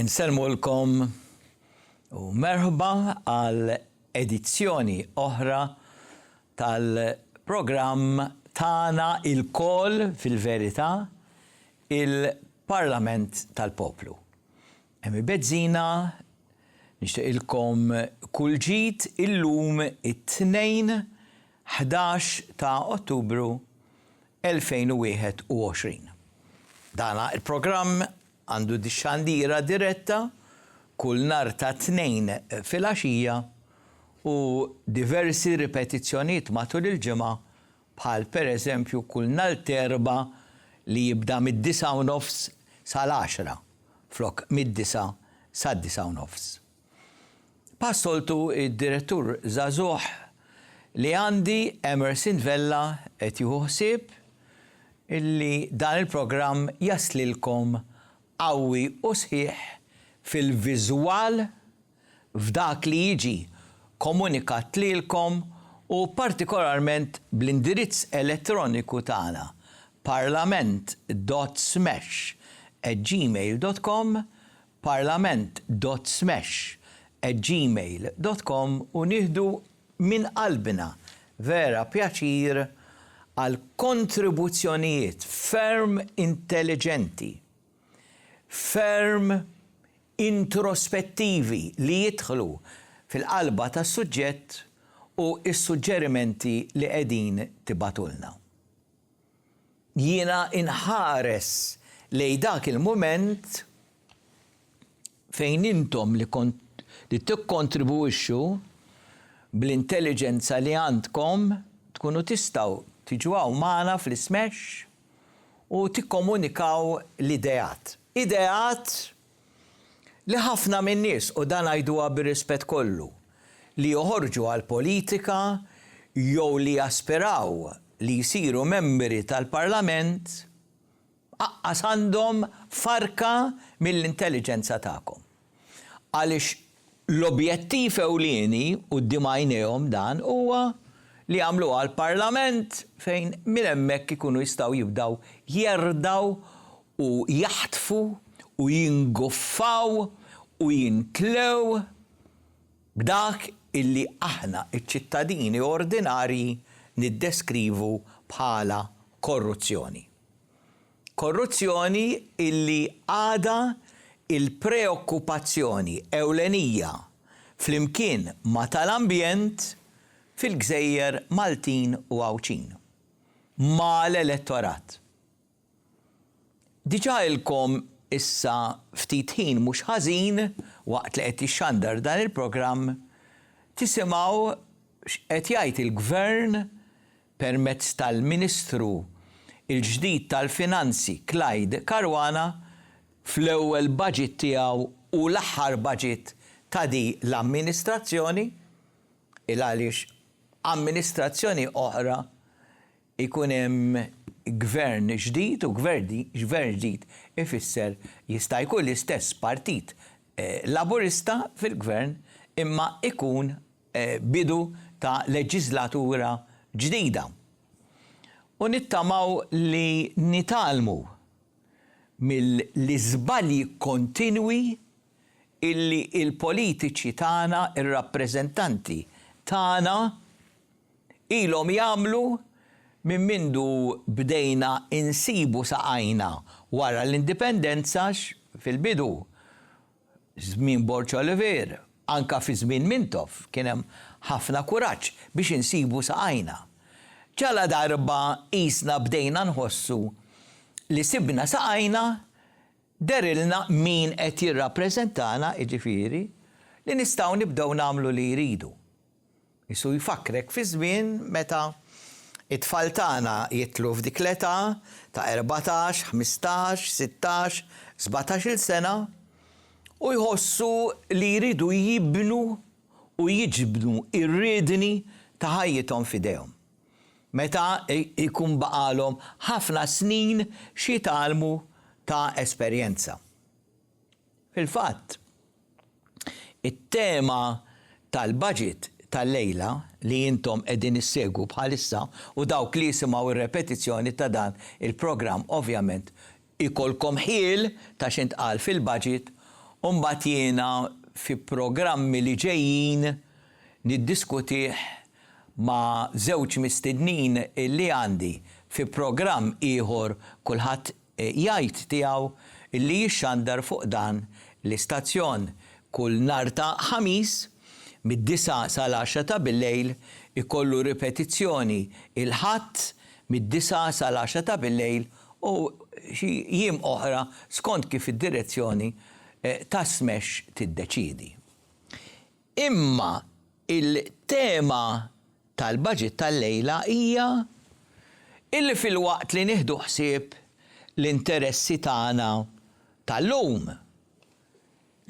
Insellmulkom u merħba għal edizzjoni oħra tal-programm Tana il-kol fil-verità Il-Parlament tal-Poplu. Hemm il-bezzina, nixtieqilkom kull ġid illum it-Tnejn 11 ta' Ottubru 2021. Dan il-programm għandu xandira diretta kull nhar ta' Tnejn filgħaxija u diversi ripetizzjonijiet matul il-ġimgħa bħal pereżempju kull nhar t'Erbgħa li jibda mid-disgħa u nofs sal-għaxra flok mid-disgħa sad-disgħa u nofs. Bħas-soltu d-Direttur Żagħżugħ li għandi Emerson Vella qed jieħu ħsieb li dan il-programm jaslilkom qawwi u sħiħ fil-viżwal, f'dak li jiġi komunikat lilkom u partikolarment bl-indirizz elettroniku tagħna parlament.smash@gmail.com, parlament.smash@gmail.com u nieħdu minn qalbna vera pjaċir għall-kontribuzzjonijiet ferm intelliġenti, ferm introspettivi li jidħlu fil-qalba tas-suġġett u s-suġġerimenti li qegħdin tibgħatulna. Jiena inħares lejn dak il-mument fejn intom li li tikkontribwixxu bl-intelliġenza li għandkom tkunu tistgħu tiġu hawn magħna fl-ismesh u tikkomunikaw l-ideat. Ideat li ħafna min-nies, u dan ngħiduha bir-rispett kollu, li joħorġu għall-politika jew li jaspiraw li jsiru membri tal-Parlament, Aqqas għandhom farka mill-intelliġenza tagħkom. Għaliex l-objettiv ewlieni quddiem għajnejhom dan huwa li jagħmluha l-Parlament fejn minn hemmhekk ikunu jistgħu jibdew jerdgħu u jaħtfu u jinguffaw u jintlew b'dak illi aħna ċ-ċittadini ordinarji niddeskrivu bħala korruzzjoni. Korruzzjoni illi għadha l-preokkupazzjoni ewlenija flimkien ma' tal-ambjent fil-gżejjer Maltin u Għawdxin. Mal-elettorat. Diġà ilkom issa ftit ħin mhux ħażin waqt li qed jixxandar dan il-programm tisimgħu x'qed jgħid il-Gvern permezz tal-Ministru l-ġdid tal-Finanzi Clyde Caruana fl-ewwel budget tiegħu u l-aħħar budget ta' din l-amministrazzjoni, 'il għaliex amministrazzjoni oħra jkun hemm Gvern ġdid u Gvern ġdid ifisser jista' jkun l-istess Partit Laburista fil-Gvern imma jkun bidu ta' leġiżlatura ġdida u nittamaw li nitgħallmu mill-iżbalji kontinwi illi l-politiċi tagħna, ir-rappreżentanti tagħna ilhom jagħmlu minn mindu bdejna insibu saqajna wara l-indipendenza għax fil-bidu Żmien Borċa Olivier, anke fi żmien Mintoff, kien hemm ħafna kuraġġ biex insibu saqajna. Ġaladarba qisna bdejna nħossu li sibna saqajna, dehrilna min qed jirrappreżentana, jiġifieri, li nistgħu nibdew nagħmlu li jridu. Qisu jfakkrek fiż-żmien meta t-tfal tagħna jidħlu f'dik l-età ta' erbatax, ħmistax, sittax, sbatax-il sena u jħossu li jridu jibnu u jiġbdu r-riedni ta' ħajjithom f'idejhom. Meta jkun baqgħalhom ħafna snin x'jitgħallmu ta' esperjenza. Fil-fatt, it-tema tal-baġit tal-lejla li intom qegħdin issegwu bħalissa u dawk li jisimgħu r-repetizzjoni ta' dan il-programm ovvjament ikollkom ħjiel ta' x'intqal fil-baġit u mbagħad jiena fi programmi li ġejjin niddiskutih ma' żewġ mistednin li għandi fi programm ieħor kulħadd jgħid tiegħu li jixxandar fuq dan l-istazzjon kull nhar ta' Ħamis mid-disgħa sal-għaxra ta' billejl, ikollu ripetizzjoni il-Ħadd mid-disgħa sal-għaxra ta' billejl u xi jiem oħra skont kif id-direzzjoni tas-SMEX tiddeċiedi. Imma il-tema tal-Budget tal-lejla hija illi filwaqt li nieħdu ħsieb l-interessi tagħna tal-lum,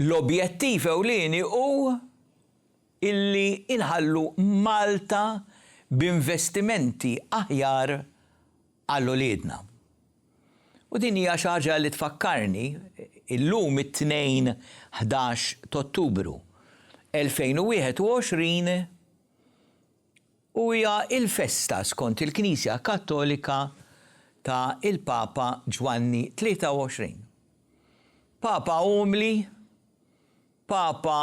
l-objettiv ewlieni hu illi inħallu Malta b'investimenti aħjar għal uliedna. U din hija xi ħaġa li tfakkarni illum it-Tnejn ħdax t'Ottubru elfejn u wieħed u għoxrin huja l-festa skont il-Knisja Kattolika ta' il-Papa Ġwanni Tlieta u Għoxrin. Papa umli, Papa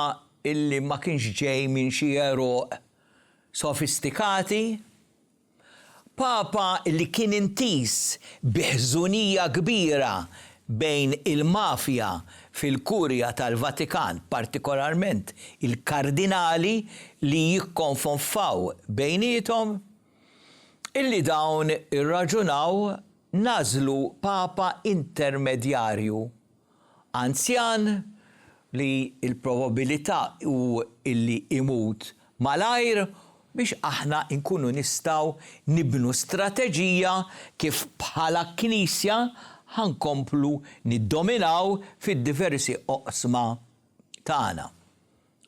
illi ma kienx ġej minn xi eruq sofistikati, Papa li kien intiż bi ħżunija kbira bejn il-mafja fil-Kurja tal-Vatikan, partikolarment il-kardinali li jikkonfonfaw bejniethom, illi dawn irraġunaw nagħżlu papa intermedjarju Anzjan li l-probabilità hu li jmut malajr biex aħna nkunu nistgħu nibnu strateġija kif bħala Knisja ħa nkomplu niddominaw fid-diversi oqsma tagħna.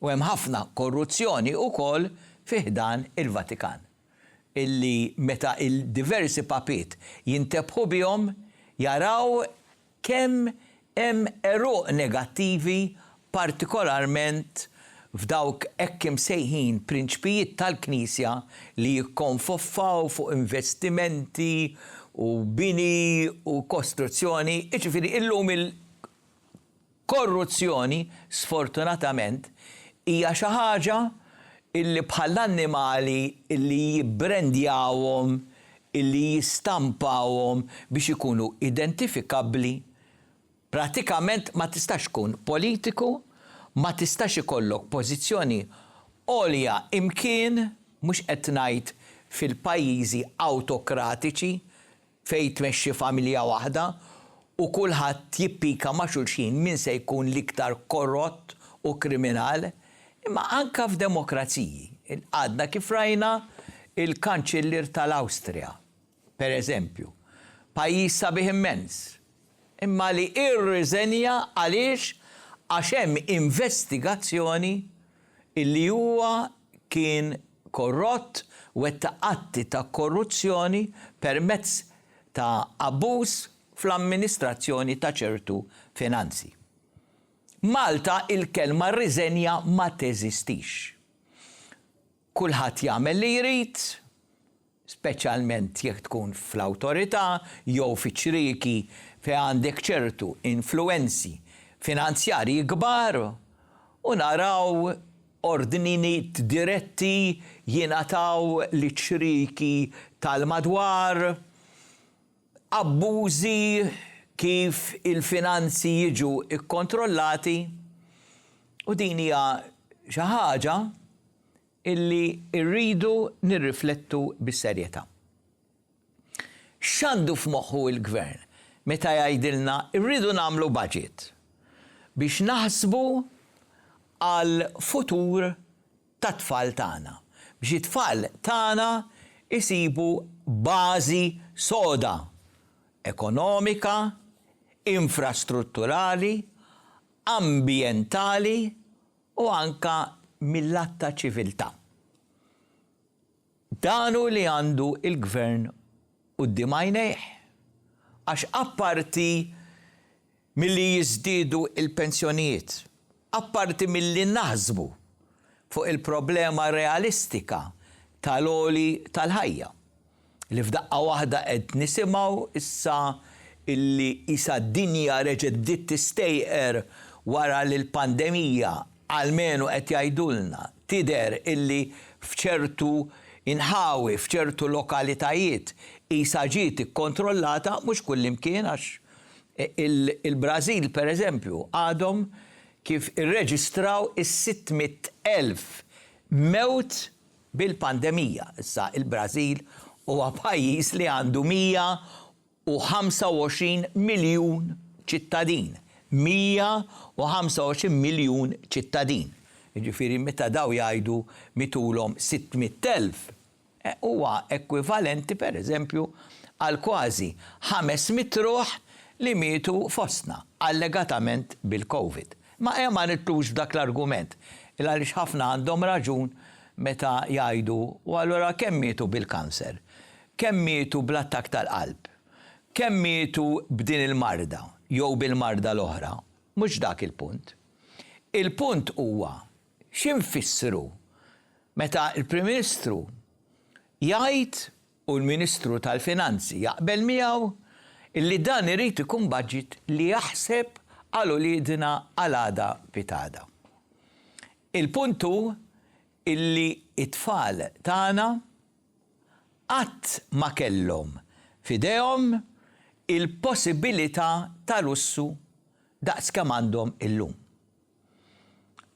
U hemm ħafna korruzzjoni wkoll fi ħdan il-Vatikan illi meta l-diversi papiet jintebħu bihom jaraw kemm hemm għeruq negattivi partikolarment f'dawk hekk imsejħin prinċpijiet tal-Knisja li jikkonfoffaw fuq investimenti u bini u kostruzzjoni, jiġifieri illum il-korruzzjoni sfortunatament hija xi ħaġa li bħall-annimali li jibbrendjawhom illi jistampawhom biex ikunu identifikabbli, pratikament ma tistax tkun politiku, ma tistax ikollok pożizzjoni għolja imkien, mhux qed ngħid fil-pajjiżi awtokratiċi fejn tmexxi familja waħda u kulħadd jippika ma' xulxin min se jkun l-iktar korrott u kriminal, Imma anke f'demokraziji, għadna kif rajna l-Kanċillier tal-Awstrija, per eżempju, pajjiż sabiħ immens, imma li irriżenja għaliex għax hemm investigazzjoni li huwa kien korrott, wettaq atti ta' korruzzjoni permezz ta' abbuż fl-amministrazzjoni ta' ċertu finanzi. Malta il-kelma rriżenja ma teżistix. Kulħadd jagħmel li jrid, speċjalment jekk tkun fl-awtorità jew fi ċrieki fejn għandek ċertu influwenzi finanzjarji kbar u naraw ordniniet diretti jingħataw liċ-ċrieki tal-madwar. Abbużi, kif il-finanzi jiġu kkontrollati u din hija xi ħaġa li rridu nirriflettu bis-serjetà. X'għandu f'moħħu l-Gvern meta jgħidilna rridu nagħmlu budget biex naħsbu għall-futur tat-tfal tagħna, biex it-tfal tagħna jsibu bażi soda ekonomika, infrastrutturali, ambjentali u anke mil-lat ta' ċiviltà. Dan hu li għandu l-Gvern quddiem għajnejh, għax apparti milli jiżdiedu l-pensjonijiet, apparti milli naħsbu fuq il-problema realistika tal-għoli tal-ħajja, li f'daqqa waħda qed nisimgħu issa illi qisha d-dinja reġgħet bdiet tistejqer wara li l-pandemija Almenu qed jgħidulna, tidher illi f'ċertu inħawi, f'ċertu lokalitajiet qisha ġiet ikkontrollata, mhux kullimkien għax il-Brażil pereżempju għadhom kif irreġistraw is-sitt mitt elf mewt bil-pandemija. Issa il-Brażil huwa pajjiż li għandu mija u 25 miljun ċittadin, 125 miljun ċittadin, jiġifieri meta dawn jgħidu mitulhom 600,000, huwa ekwivalenti, pereżempju, għal kważi 500 ruħ li mietu fostna, allegatament bil-Covid. Imma ejja ma nidħlux f'dak l-argument, il-għaliex ħafna għandhom raġun meta jgħidu, u allura kemm mietu bil-kanser? Kemm mietu bl-attakk tal-qalb? Kemm mietu b'din il-marda jew bil-marda l-oħra? Mhux dak il-punt. Il-punt huwa xi nfissru meta l-Prim Ministru jgħid, u l-Ministru tal-Finanzi jaqbel miegħu, li dan irid ikun budget li jaħseb għal uliedna għal għada pitgħada. Il-punt hu li t-tfal tagħna qatt ma kellhom f'idejhom il-possibilità ta' lussu daqs kemm għandhom illum.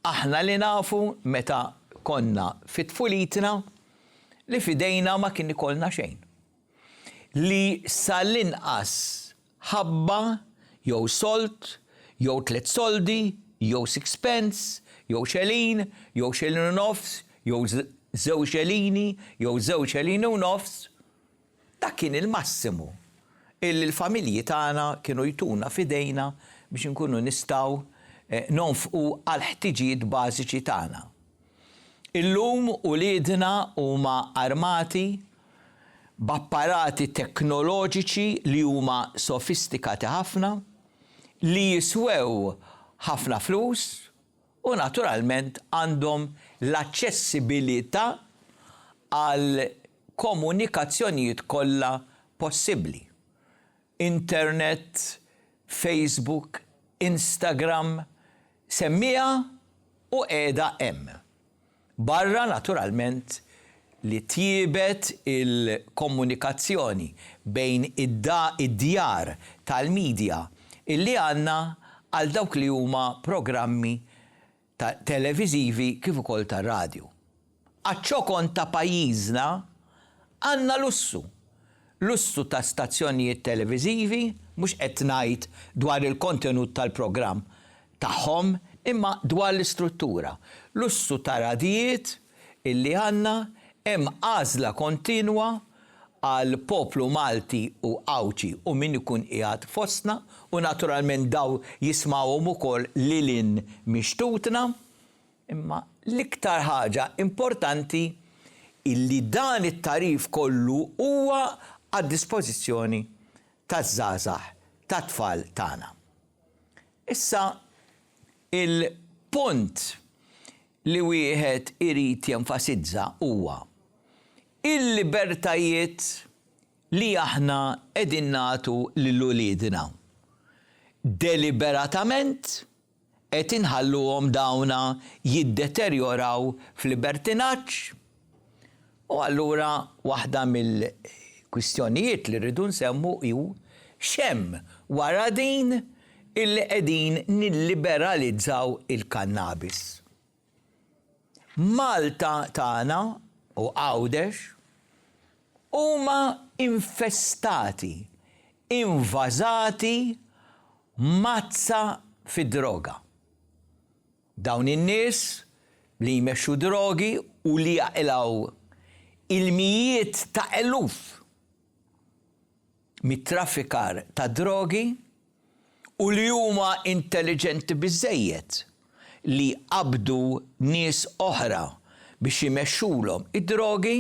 Aħna li nafu meta konna fi tfulitna li f'idejna ma kien ikollna xejn. Li sa l-inqas ħabba, jew sold, jew tliet soldi, jew sixpence, jew xelin, jew xelin u nofs, jew żewġ xelini, jew żewġ xelini u nofs, dak kien il-massimu illi l-familji tagħna kienu jtuna f'idejna biex inkunu nistgħu nonfqu għall-ħtiġijiet bażiċi tagħna. Illum uliedna huma armati b'apparati teknoloġiċi li huma sofistikati ħafna, li jiswew ħafna flus u naturalment għandhom l-aċċessibilità għall-komunikazzjonijiet kollha possibbli. Internet, Facebook, Instagram, semmiha u qiegħda hemm. Barra naturalment li tjiebet il-komunikazzjoni bejn id-djar tal-media illi għandna għal dawk li huma programmi ta' televiżivi kif ukoll ta' radju. Għaċ-ċokon ta' pajjiżna għandna lussu, lussu ta' stazzjonijiet televiżivi, mhux qed ngħid dwar il-kontenut tal-programm tagħhom imma dwar l-istruttura, lussu ta' radjijiet, illi għandna hemm għażla kontinwa għal poplu Malti u Għawdxi u min ikun qiegħed fostna u naturalment daw jismawhom ukoll lil hinn mix-xtutna imma l-iktar ħaġa importanti illi dan it-tagħrif kollu huwa għad-dispożizzjoni taż-żgħażagħ tat-tfal tagħna. Issa il-punt li wieħed irid jenfasizza huwa l-libertajiet li aħna qegħdin nagħtu lil uliedna. Deliberatament qed inħalluhom dawna jiddeterjoraw f'libertinaġġ? U allura waħda mill-kwistjonijiet li rridu nsemmu hu x'hemm wara din illi qegħdin nilliberalizzaw il-kannabis. Malta tagħna u Għawdex huma infestati, invażati m'għatsa fid-droga. Dawn in-nies li jmexxu drogi u li jaqilgħu il-mijiet ta' eluf mit-traffikar tad-drogi u li huma intelliġenti biżżejjed li jqabbdu nies oħra biex imexxulhom id-drogi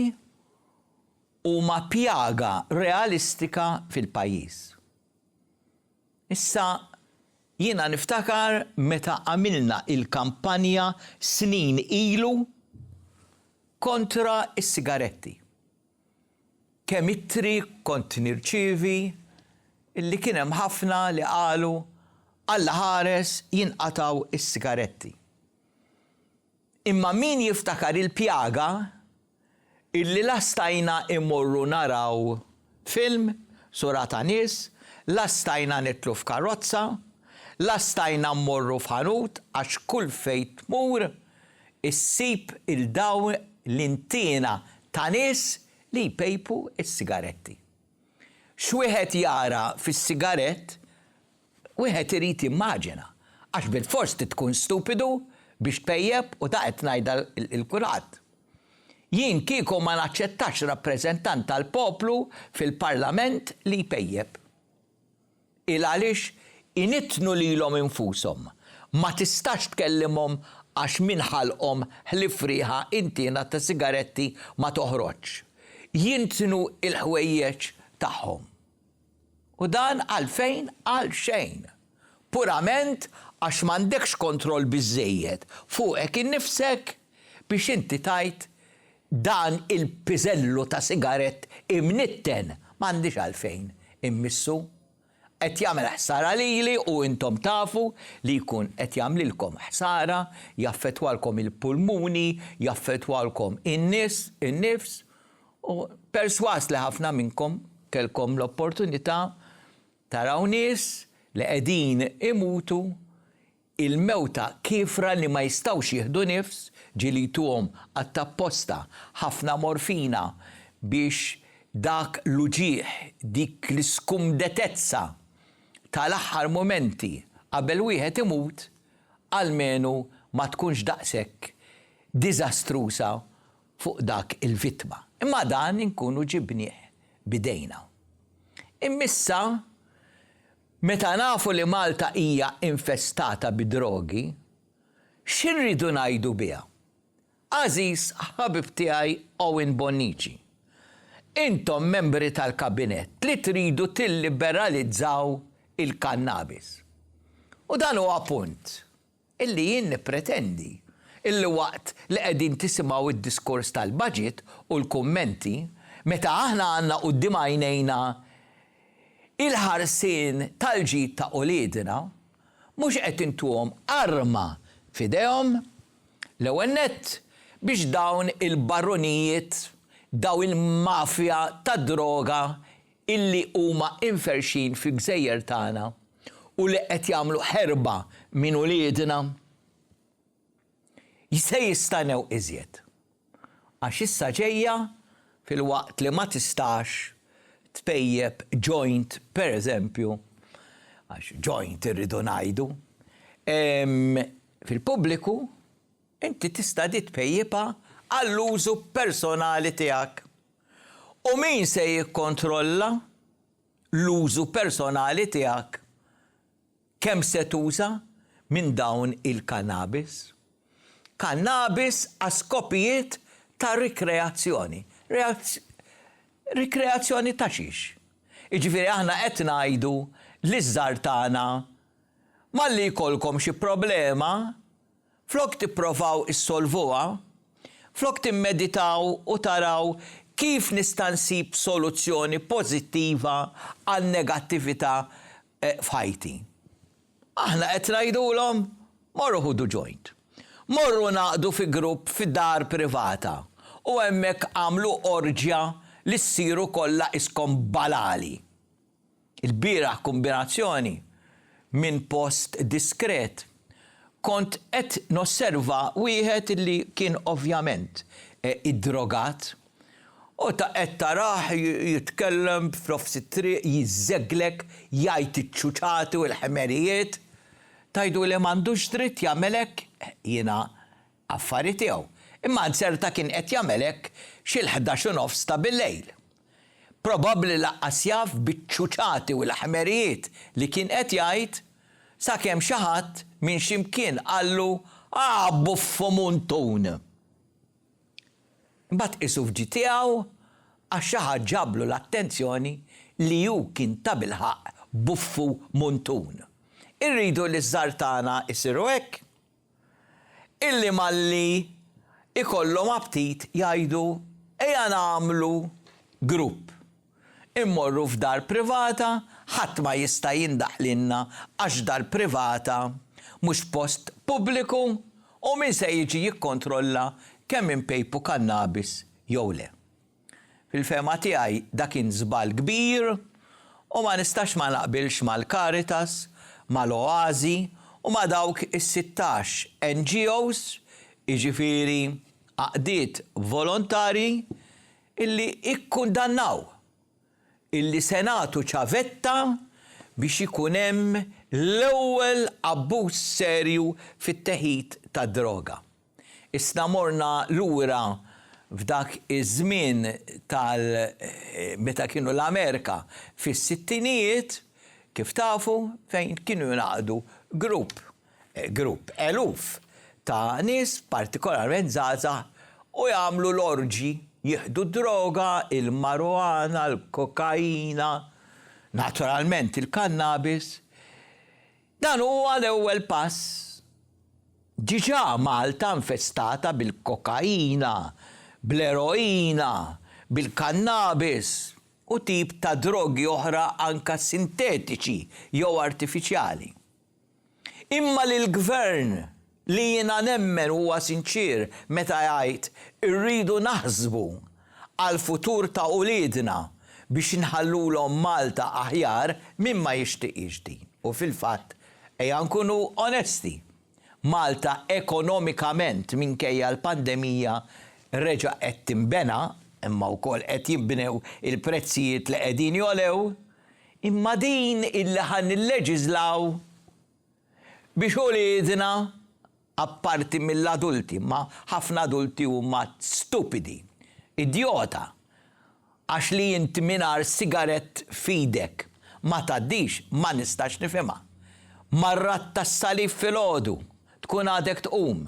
huma pjaga realistika fil-pajjiż. Issa, jiena niftakar meta għamilna il-kampanja snin ilu kontra s-sigaretti, kemm ittri kont nirċievi li kien hemm ħafna li qalu, Allaħares jinqatgħu s-sigaretti. Imma min jiftakar il-pjaga illi la stajna immorru naraw film, sura ta' nies, la stajna nidħlu f'karozza, la stajna mmorru f'ħanut għax kull fejn tmur issib il-dawn l-intiena ta' nies li jpejpu s-sigaretti. X'wieħed jara fis-sigarett Wieħed irid jimmaġina, għax bilfors trid tkun stupidu biex tpejjep u ta' qed ngħidha 'l kulħadd. Jien kieku ma naċċettax rappreżentant tal-poplu fil-Parlament li jpejjep. Il għaliex inittnu lilhom infushom. Ma tistax tkellimhom għax min ħalqhom ħlief riħa intiena ta' sigaretti ma toħroġx. Jintnu l-ħwejjeġ tagħhom. U dan għalfejn? Għalxejn! Purament għax m'għandekx kontroll biżżejjed fuqek innifsek biex inti tgħid, 'Dan il-piżellu ta' sigarett imnitten m'għandix għalfejn immissu. Qed jagħmel ħsara lili u intom tafu li jkun qed jagħmlilkom ħsara, jaffettwalkom il-pulmuni, jaffettwalkom in-nifs, U persważ li ħafna minnkom kellkom l-opportunità taraw nies li qegħdin imutu il-mewta kiefra li ma jistgħux jieħdu nifs, ġieli jtuhom qatt apposta ħafna morfina biex dak l-uġigħ, dik l-iskumdetezza tal-aħħar mumenti qabel wieħed imut, almenu ma tkunx daqshekk diżastruża fuq dak il-vittma, imma dan inkunu ġibnieh b'idejna. Immissa, meta nafu li Malta hija infestata bid-drogi, xi rridu ngħidu biha? Għażiż ħabib tiegħi Owen Bonnici, intom membri tal-Kabinett li tridu tilliberalizzaw il-kannabis. U dan huwa punt. illi jien nippretendi illi waqt li qegħdin tisimgħu d-diskors tal-budget u l-kummenti, meta aħna għandna quddiem għajnejna il-ħarsien tal-ġid ta' uliedna, mhux qed intuhom arma f'idejhom, l-ewwel nett, biex dawn il-barunijiet, dawn il-mafja tad-droga illi huma imferrxin fil-gżejjer tagħna u li qed jagħmlu ħerba minn uliedna, se jistagħnew iżjed. Għax issa ġejja, filwaqt li ma tistax tpejjep joint pereżempju, għax joint irridu ngħidu, fil-pubbliku, inti tista' di tpejjipha għall-użu personali tiegħek. U min se jikkontrolla l-użu personali tiegħek? Kemm se tuża minn dawn il-kannabis? Kannabis għal skopijiet ta' rikreazzjoni. Rikreazzjoni ta' xiex? Jiġifieri aħna qed ngħidu liż-żgħar tagħna malli jkollkom xi problema, Flok tipprovaw issolvuha, flok timmeditaw u taraw kif nista' nsib soluzzjoni pożittiva għan-negattività f'ħajti, aħna qed ngħidulhom, morru ħudu joint. Morru ngħaqdu fi grupp fi dar privata u hemmhekk agħmlu orġja li ssiru kollha qiskom balali. Il-bieraħ kombinazzjoni minn post diskret kont qed nosserva wieħed li kien ovvjament iddrogat u ta' qed tarah jitkellem f'nofs it-triq jiżżegglek jgħid iċ-ċuċati u l-ħmerijiet. Tgħidu li m'għandux dritt jagħmel hekk? Jiena affari tiegħu, imma Anzerta kien qed jagħmel hekk xi l-ħdax u nofs ta' billejl. Probabbli lanqas jaf biċ-ċuċati u l-ħmerijiet li kien qed jgħid, sakemm xi ħadd minn xi mkien qallu, Ah, buffu muntun! Imbagħad qisu f'ġid tiegħu għax xi ħadd ġablu l-attenzjoni li hu kien tabilħaqq buffu muntun. Irridu li ż-żgħar tagħna jsiru hekk? illi malli jkollhom aptit jgħidu ejja nagħmlu grupp, immorru f'dar privata, ħadd ma jista' jindaħ lilna għax dar privata mhux post pubbliku u min se jiġi jikkontrolla kemm inpejpu kannabis jew le. Fil-fehma tiegħi da kien żball kbir u ma nistax ma naqbilx mal-Caritas, mal-Oasi u ma' dawk is-sittax NGOs, jiġifieri għaqdiet volontarji, illi ikkundannaw illi se nagħtu ċavetta biex ikun hemm l-ewwel abbuż serju fit-teħid tad-droga. Isna morna lura f'dak iż-żmien tal meta kienu l-Amerika fis-sittinijiet, kif tafu, fejn kienu jingħaqdu grupp, grupp, eluf ta' nies, partikolarment żgħażagħ, u jagħmlu l-orġji, jieħdu d-droga, il-marijuana, l-kokaina, naturalment il-kannabis. Dan huwa l-ewwel pass. Diġà Malta infestata bil-kokaina, bl-eroina, bil-kannabis u tip ta' drogi oħra anke sintetiċi jew artifiċjali. Imma lill-Gvern Li jiena nemmen huwa sinċier meta jgħid irridu naħsbu għall-futur ta' uliedna biex nħallulhom Malta aħjar, min ma jixtiqhiex din? U fil-fatt, ejja nkunu onesti, Malta ekonomikament minkejja l-pandemija reġa' qed tinbena, imma wkoll qed jinbnew il-prezzijiet li qegħdin jogħlew, imma din illi ħa nilleġiżlaw, Biex uliedna, apparti mill-adulti, imma ħafna adulti huma stupidi, idjota, għax li int mingħajr sigarett f'idek ma tgħaddix ma nistax nifhimha. Mar-radd tas-salib filgħodu tkun għadek tqum,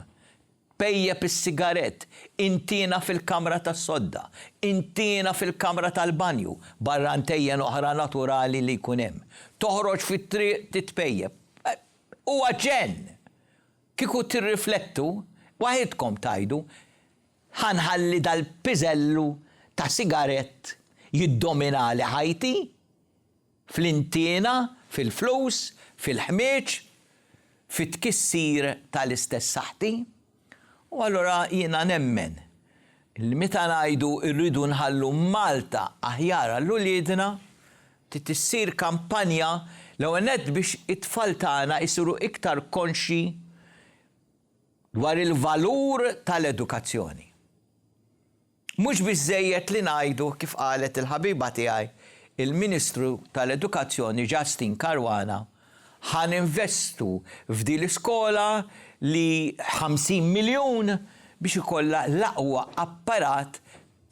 Pejjep is-sigarett, intiena fil-kamra tas-sodda, intiena fil-kamra tal-banju, barra ntejjen oħra naturali li jkun hemm. Toħroġ fit-triq titpejjep. Huwa ġenn! Kieku tirriflettu, waħidkom tgħidu, Ħa nħalli dal-piżellu ta' sigarett jiddominali ħajti? fl-intiena, fil-flus, fil-ħmieġ, fit-tkissir tal-istess saħħti. U allura jiena nemmen li meta ngħidu rridu nħallu Malta aħjar għal uliedna, trid issir kampanja l-ewwel nett biex it-tfal tagħna jsiru iktar konxji dwar il-valur tal-edukazzjoni. Mhux biżżejjed li ngħidu kif qalet il-ħabiba tiegħi l-Ministru tal-Edukazzjoni Justyne Caruana, ħa ninvestu f'din l-iskola li 50 miljun biex ikollha l-aqwa apparat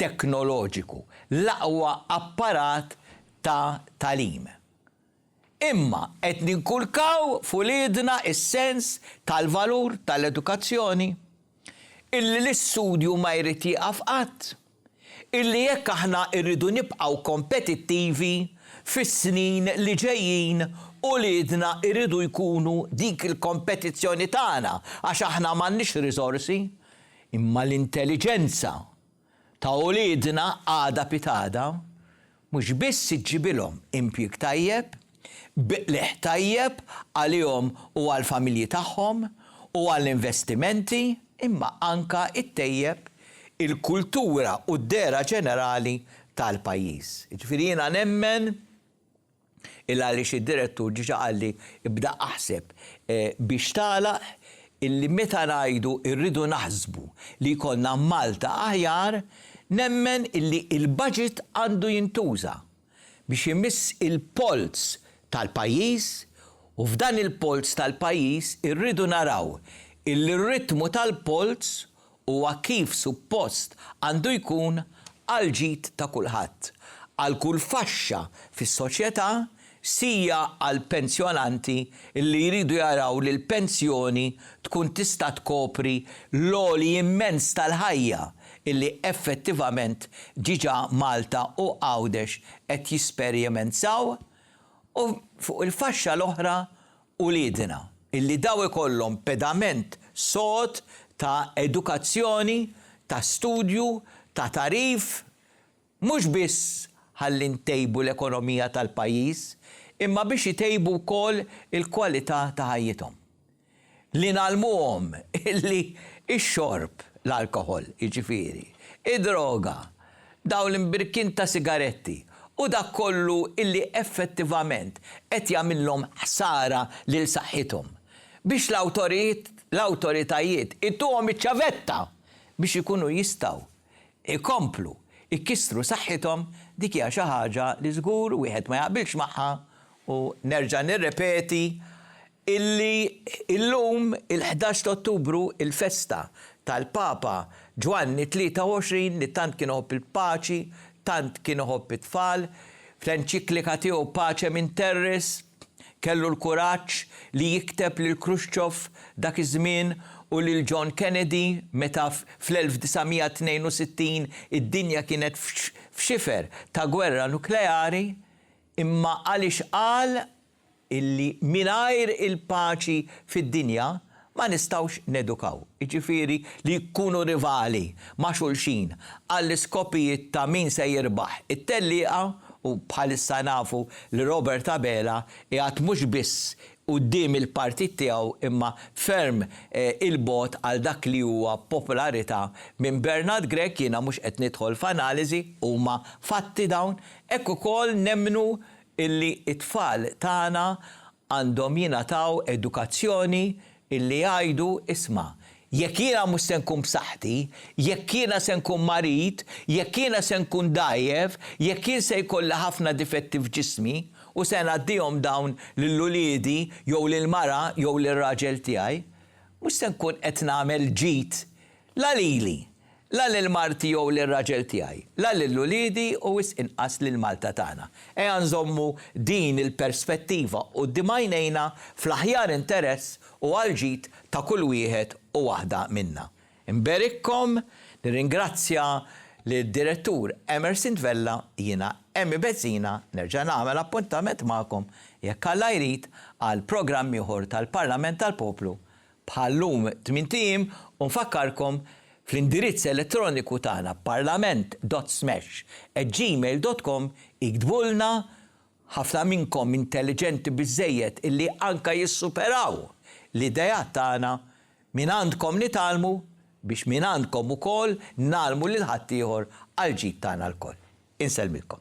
teknoloġiku, l-aqwa apparat ta' tagħlim. Imma qed ninkulkaw f'uliedna s-sens tal-valur tal-edukazzjoni, illi l-istudju ma jrid jieqaf qatt, illi jekk aħna rridu nibqgħu kompetittivi fis-snin li ġejjin uliedna jridu jkunu dik il-kompetizzjoni tagħna għax aħna m'għandniex riżorsi imma l-intelliġenza ta' uliedna għada pitgħada mhux biss iġġibilhom impjieg tajjeb, biqligħ tajjeb għalihom u għall-familji tagħhom u għall-investimenti imma anke ittejjeb il-kultura u d-dehra ġenerali tal-pajjiż. Jiġifieri jiena nemmen il għaliex id-direttur diġa qalli bda aħseb biex tagħlaq illi meta ngħidu rridu naħsbu li jkollna Malta aħjar nemmen illi il-budget għandu jintuża biex imiss il-polz tal-pajjiż u f'dan il-polz tal-pajjiż irridu naraw illi r-ritmu tal-polz huwa kif suppost għandu jkun għall-ġid ta' kulħadd, għal kull faxxa fis-soċjetà, sija għall-pensjonanti li jridu jaraw li l-pensjoni tkun tista' tkopri l-għoli immens tal-ħajja li effettivament diġà Malta u Għawdex qed jisperjementaw u fuq il-faxxa l-oħra uliedna, illi daw ikollhom pedament sod ta' edukazzjoni, ta' studju, ta' tagħrif, mhux biss ħalli ntejbu l-ekonomija tal-pajjiż, imma biex itejbu wkoll il-kwalità ta' ħajjithom. Li ngħallmuhom illi x-xorb, l-alkoħol jiġifieri, id-droga, dawn l-imbirkien ta' sigaretti u dak kollu illi effettivament qed jagħmillhom ħsara lil saħħithom, biex l-awtoritajiet ituhom iċ-ċavetta biex ikunu jistgħu jkomplu jkissru saħħithom, dik hija xi ħaġa li żgur wieħed ma jaqbilx magħha u nerġa' nirrepeti illi llum, il-ħdax ta' Ottubru, il-festa tal-Papa Ġwanni t-23 li tant kien iħobb il-paċi, tant kien iħobb it-tfal, fl-enċiklika tiegħu Pacem in Terris kellu l-kuraġġ li jikteb lil Khrushchev dak iż-żmien u lil John Kennedy meta fl-1962 id-dinja kienet f'xifer ta' gwerra nukleari, imma għaliex qal illi mingħajr il-paċi fid-dinja ma nistgħux nedukaw, jiġifieri li jkunu rivali ma' xulxin għall-iskopijiet ta' min se jirbaħ it-tellieqa u bħalissa nafu li Robert Abela qiegħed mhux biss quddiem il-partit tiegħu imma ferm 'il bogħod għal dak li huwa popolarità minn Bernard Grech, jiena mhux qed nidħol f'analiżi, huma fatti dawn, hekk ukoll nemmnu illi t-tfal tagħna għandhom jingħataw edukazzjoni illi jgħidu, isma', jekk jiena mhux se nkun b'saħħti, jekk jiena se nkun marid, jekk jiena se nkun dgħajjef, jekk jien se jkolli ħafna difetti f'ġismi u se ngħaddihom dawn lil uliedi jew lill-mara jew lir-raġel tiegħi, mhux se nkun qed nagħmel ġid la lili La lil marti jew lir-raġel tiegħi, la lil uliedi u wisq inqas lil Malta tagħna. Ejja nżommu din il-perspettiva quddiem għajnejna fl-aħjar interess u għall-ġid ta' kull wieħed u waħda minna. Nberikkom, nirringrazzja lid-Direttur Emerson Vella, jiena Emmy Bezzina nerġa' nagħmel appuntament magħkom, jekk Alla jrid, għal programm ieħor tal-Parlament tal-Poplu bħal llum tmint ijiem u nfakkarkom fl-indirizz elettroniku tagħna parlament.smash@gmail.com iktbulna ħafna minnkom intelliġenti biżżejjed illi anke jissuperaw l-ideat tagħna mingħandkom nitgħallmu biex mingħandkom ukoll ngħallmu lil ħaddieħor għall-ġid tagħna lkoll. Insellmilkom.